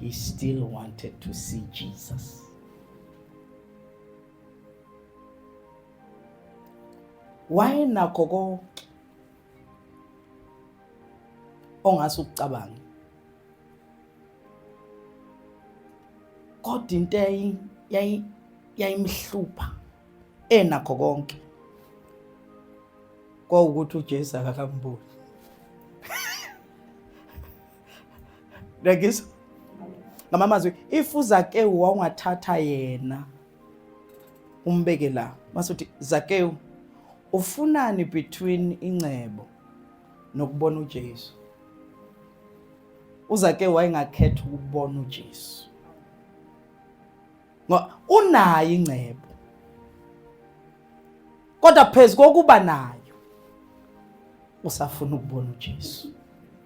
he still wanted to see Jesus. wayenakho konke ongase ukucabange kodwa into yayimhlupha enakho konke kwawukuthi uJesu akakamboni Rekisa. Ngama mazwi if uZakewu wawungathatha yena umbeke la. Masuthi Zakewu ufunani between ingcebo nokubona uJesu. UZakewu wayengakhetha ukubona uJesu. Ngoba unayo ingcebo. Kodwa phezu kokuba nayo usafuna ukubona uJesu.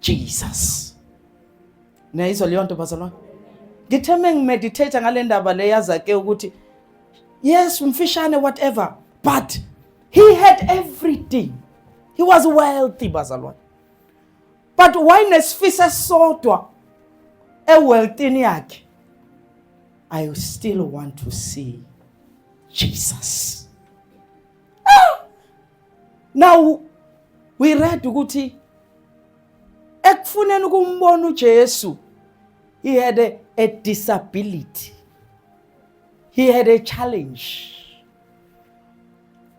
Jesus. Niyayizwa leyo nto bazalwane? Ngithe mengimeditate ngale ndaba le yazake ukuthi yes umfishane whatever but he had everything. He was wealthy bazalwane. But why nesifisa esodwa ewealthini yakhe? I still want to see Jesus. Now we read ukuthi ekufuneni ukumbona uJesu he had a, a disability he had a challenge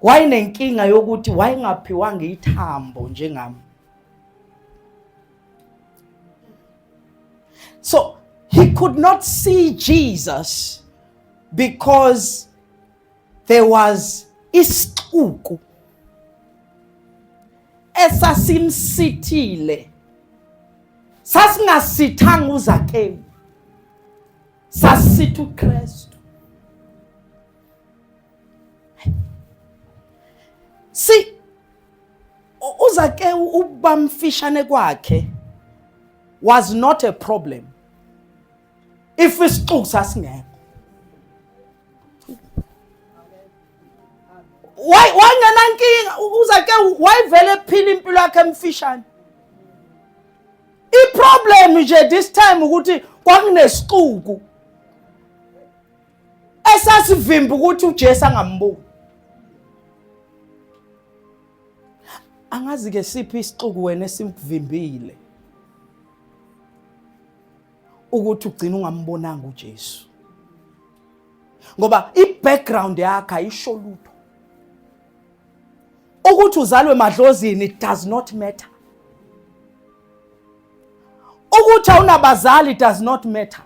wayenenkinga yokuthi wayengaphiwanga ithambo njengami so he could not see Jesus because there was isixuku esasimsithile sasingasithanga uzakewu sasitha uKristu si uzakewu ubamfishane kwakhe was not a problem if isixuku sasingekho why wangenankinga uzake wayivele ephila impilo yakhe emfishane iproblem nje this time ukuthi kwakunesixuku esasivimba ukuthi uJesu angambuki angazi ke siphi isixuku wena esimvimbile ukuthi ugcina ungambonanga uJesu ngoba i-background yakhe ayisho lutho ukuthi uzalwe madlozini it does not matter ukuthi awunabazali it does not matter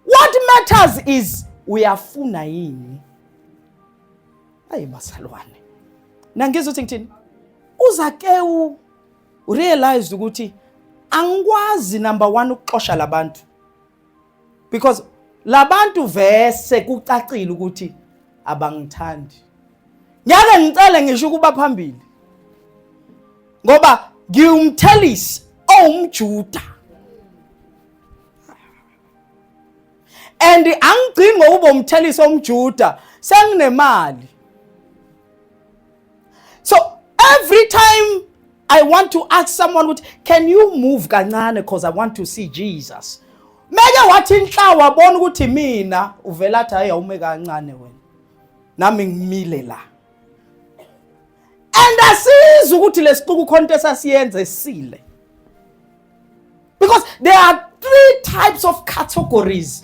what matters is uyafuna yini ayi masalwane nangizothi ngithini uzakewu urealized ukuthi angikwazi number one ukuxosha labantu because labantu vese kucacile ukuthi abangithandi ngeke ngicele ngisho ukuba phambili ngoba ngiwumthelisi owumjuda and angigcini ngokuba umthelisi omjuda senginemali so every time i want to ask someone ukuthi can you move kancane because i want to see jesus meke wathi inhla wabona ukuthi mina uvela athi hayi awume kancane wena nami ngimile la and asizi ukuthi lesixuku khona into esasiyenza esile because there are three types of categories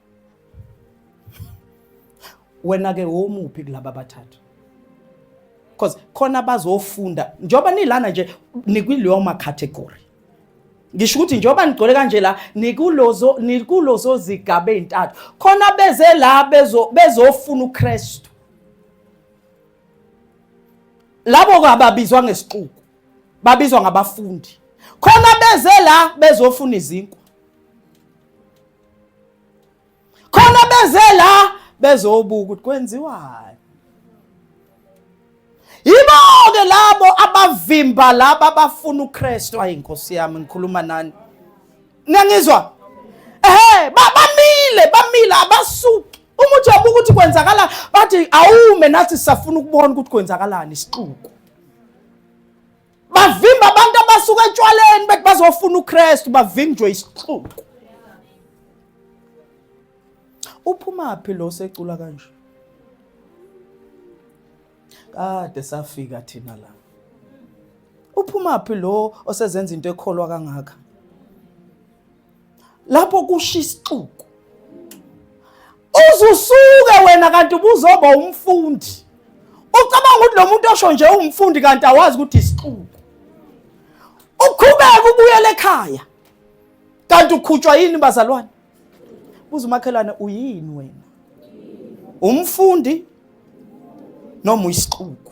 wena ke womuphi kulaba abathathu because khona bazofunda njengoba nilana nje nikwileyo ma category ngisho ukuthi njengoba nigcole kanje la nikulozo nikulozo zigaba ezintathu khona beze la bezo bezofuna uKristu labo kababizwa ngesixuku babizwa ngabafundi khona beze la bezofuna izinkwa khona beze la bezobuka ukuthi kwenziwani yibo-ke labo abavimba laba abafuna ukristu ayi nkosi yami ngikhuluma nani niyangizwa ehe bamile bamile abasuki uma uthi abuka ukuthi kwenzakalani bathi awume nathi sisafuna ukubona ukuthi kwenzakalani isixuku bavimba abantu abasuka etshwaleni bethi bazofuna uKristu bavinjwe isixuku uphuma phi lo secula kanje kade safika thina la uphuma phi lo osezenza into ekholwa kangaka lapho kusha isixuku uzusuke wena kanti ubuzoba umfundi ucabanga ukuthi lo muntu osho nje uwumfundi kanti awazi ukuthi isixuku ukhubeke ubuyele ekhaya kanti ukhutshwa yini bazalwane buza umakhelwane uyini wena umfundi noma uyisixuku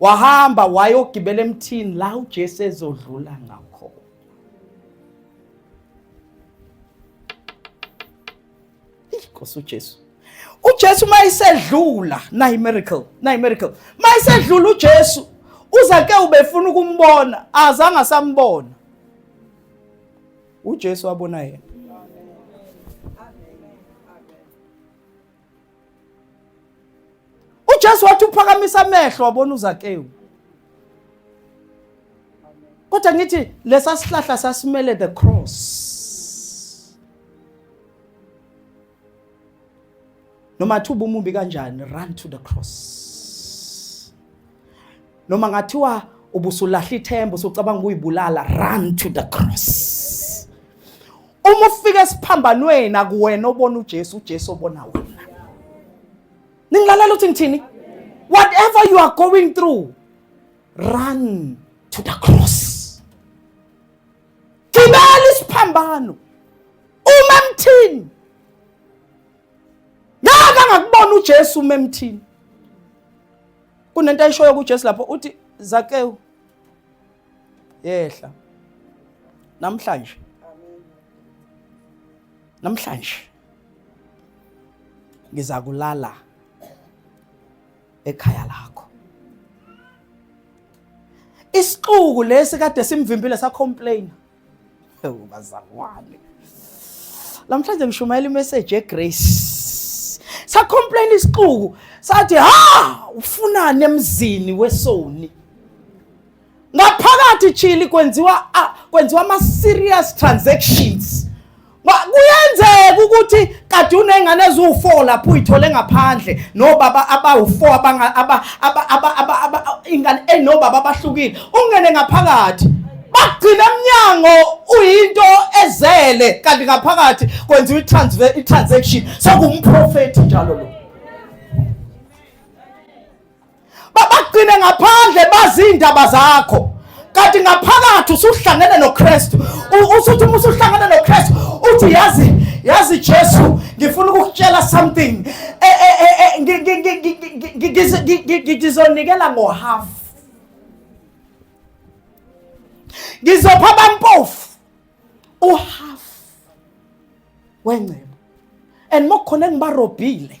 wahamba wayogibela emthini la uJesu ezodlula ngakho Inkosi uJesu uJesu mayisedlula nayi miracle nayi miracle mayisedlula uJesu uzake ubefuna ukumbona azange asambona uJesu wabona yena uJesu wathi uphakamisa amehlo wabona uZakewu kodwa ngithi lesa sihlahla sasimele the cross noma thuba umubi kanjani run to the cross noma ngathiwa ubusulahla ithemba usucabanga ukuyibulala run to the cross uma ufika esiphambanweni akuwena obona uJesu uJesu obona wena ningilalela uthi ngithini whatever you are going through run to the cross gibela isiphambano uma emthini ngaka ngakubona uJesu uma emthini kunento ayishoyo kuJesu lapho uthi Zakewu yehla namhlanje namhlanje ngiza kulala ekhaya lakho isixuku lesi kade simvimbile sa complain bazalwane namhlanje ngishumayela imeseji yegrace sakhomplaina isixuku sathi ha ufunani emzini wesoni ngaphakathi chili kwenziwa kwenziwa ama serious transactions Ba- kuyenzeka ukuthi kade unengane eziwu-four lapho uyithole ngaphandle nobaba abawu-four abanga- aba- aba- aba- aba- aba- ingane enobaba abahlukile ungene ngaphakathi bagcine emnyango uyinto ezele kanti ngaphakathi kwenziwa i-transfer- i-transaction sekumprofethi njalo lo babagcine ngaphandle bazi iy'ndaba zakho kanti ngaphakathi usuhlangene nokristu usuthi uma usuhlangene nokristu uthi yazi yazi jesu ngifuna ukukutshela something ngizonikela ngohalf ngizopha abampofu uhalf wengcebo and mokukhona engibarobhile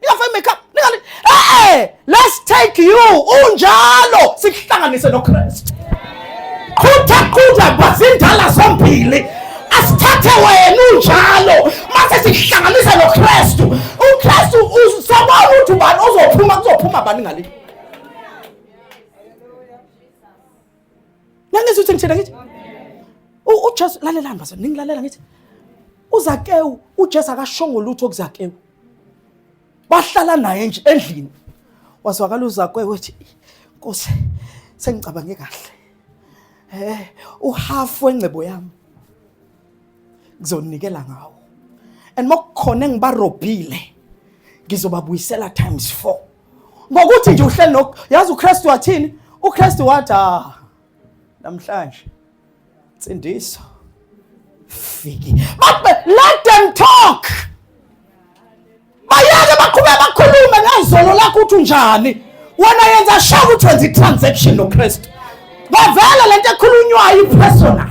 ningafaki makeup ningali eh let's take you unjalo sikuhlanganise noKristu qhutha qhutha bazindala zombili asithathe wena unjalo mase sihlanganise noKristu uKristu uzobona ukuthi ubani ozophuma kuzophuma bani ngale Nangizwe ukuthi ngithina ngithi uJesu lalelani bazo ningilalela ngithi uZakewu uJesu akashongo lutho kuZakewu. Bahlala naye nje endlini. Wazwakala uZakewu wethi Nkosi sengicabange kahle. Eh uhafu wengcebo yami ngizonikela ngawo. And mokukhona engibarobhile ngizobabuyisela times 4. ngokuthi nje uhleli lokho yazi uKristu wathini uKristu wathi ah namhlanje sindiso fiki but let them talk bayeke baqhubeka bakhulume ngezolo lakho uthi unjani wena yenza sure ukuthi wenza i-transaction noKristu bavele lento ekhulunywayo i-personal